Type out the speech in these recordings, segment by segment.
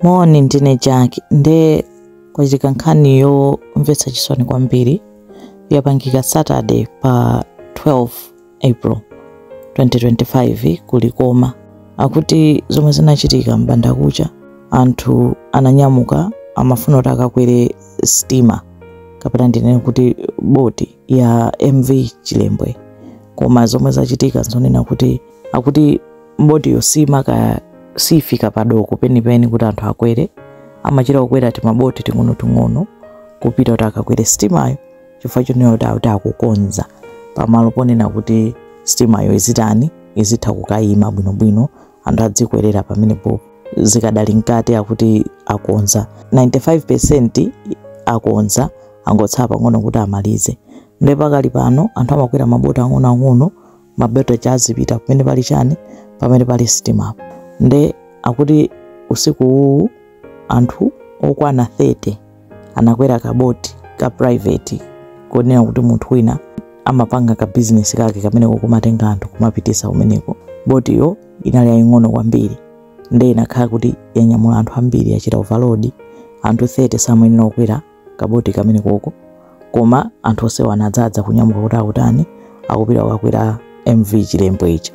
Moni, ndine Jack. Nde kwachitika nkhani yomvetsa chisoni kwambiri yapangika Saturday pa 12 April 2025 ku Likoma. Akuti zomwe zinachitika m'bandakucha anthu ananyamuka amafuna kuti akakwere sitima kapena ndinene kuti boti ya MV Chilembwe koma zomwe zachitika zonena kuti akuti botiyo simaka- sifika padoko penipeni kuti anthu akwere amachita kukwera timaboti ting'onoting'ono kupita kuti akakwere sitimayo chifukwa chonena kuti akuti akukonza pamalo ponena kuti sitimayo izitani izitha kukayima bwinobwino anthu adzikwerera pamenepo zikadali mkati akuti akonza 95% akonza angotsala pang'ono kuti amalize nde pakali pano anthu amakwera maboti ang'onoang'ono maboti kuti azipita pamene pali chani pamene pali sitimapo nde akuti usiku uwu anthu okwana 30 anakwera kaboti ka private konena kuti munthu wina amapanga ka business kake kameneko kumatenga anthu kumapitisa kumeneko botiyo inali yaying'ono kwambiri nde inakhala kuti yanyamula anthu ambiri yachita overload anthu 30 samayenera kukwera kaboti kamenekoko koma anthu onsewo anadzadza kunyamuka kuti akutani akupita kukakwera MV Chilembwe ija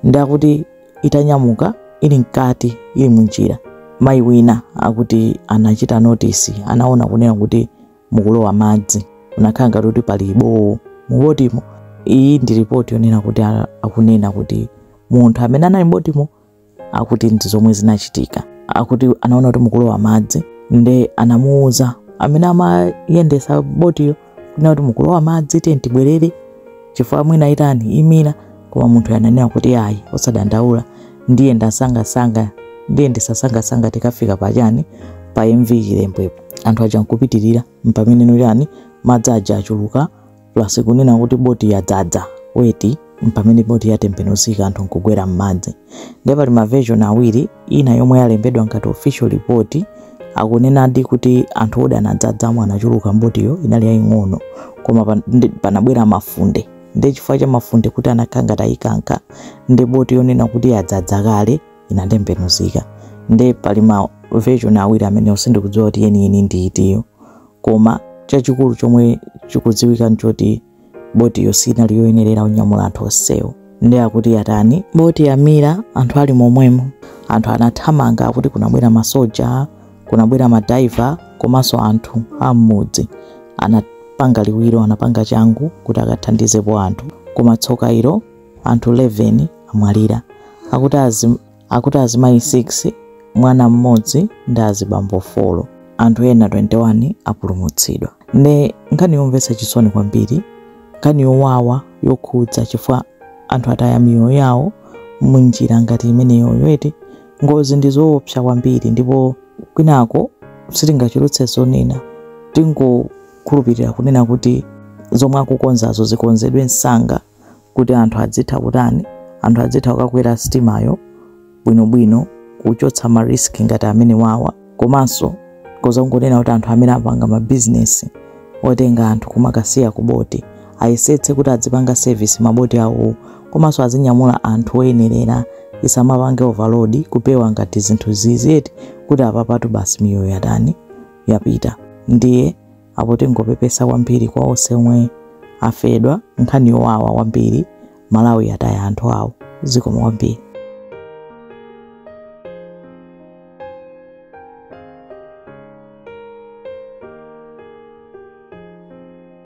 nde akuti itanyamuka ili mkati ili munjira mayi wina akuti anachita notisi anaona kunena kuti mukulowa madzi kunakhala ngati kuti pali bowo mubotimo iyi ndi ripoti yonena kuti a- akunena kuti munthu amene anali mbotimo akuti ndi zomwe zinachitika akuti anaona kuti mukulowa madzi nde anamuuza amene amayendesa botiyo kunena kuti mukulowa madzi tiye tibwerere chifukwa mwina itani imira koma munthu ananena kuti ayi osadandaula ndiyendetsa nsangansanga ndiyendetsa nsangansanga tikafika pachani pa MV Chilembwepo anthu aja nkupitirira mpameneno chani madzi aja achuluka plus kunena kuti boti yadzadza weti mpamene boti yatembenuzika anthu nkugwera m'madzi nde pali ma version awiri ina yomwe yalembedwa ngati official report akunenadi kuti anthu odi anadzadzamo anachuluka mbotiyo inali yaying'ono koma pan- ndi- panabwera mafunde nde chifukwa cha mafunde kuti anakhala ngati ayikanka nde boti yonena kuti yadzadza kale inatembenuzika nde pali ma version awiri amenewo sindikudziwa kuti yeniyeni ndi itiyo koma chachikulu chomwe chikudziwika nchoti botiyo sinali yoyenerera kunyamula anthu onsewo nde akuti yatani boti yamira anthu ali momwemo anthu anathamanga akuti kunabwera masoja kunabwera madaiva komanso anthu am'mudzi anapanga liwiro anapanga changu kuti akathandizepo anthu koma tsoka ilo anthu 11 amwalira akuti akuti azimayi 6 mwana mmodzi ndi azibambo 4 anthu ena 21 apulumutsidwa nde nkhani yomvetsa chisoni kwambiri nkhani yowawa yokhudza chifukwa anthu ataya miyoyo yawo munjira ngati imeneyoyo eti ngozi ndi zoopsa kwambiri ndipo kwinako sitingachulukitse zonena tingokhulupirira kunena kuti zomwe akukonzazo zikonzedwe msanga kuti anthu adzitha kutani anthu adzitha kukakwera sitimayo bwinobwino kuchotsa ma risk ngati amenewawa komanso koza kungonena kuti anthu amene apanga mabizinesi otenga anthu kumakasiya ku boti ayesetse kuti adzipanga service maboti awowo komanso azinyamula anthu oyenerera asamapange overload kupewa ngati zinthu zizi eti kuti apapatu basi miyoyo yatani yapita ndiye apo tingopepesa kwambiri kwa onse omwe afedwa nkhani yowawa kwambiri malawi yataya anthu awo zikomo kwambiri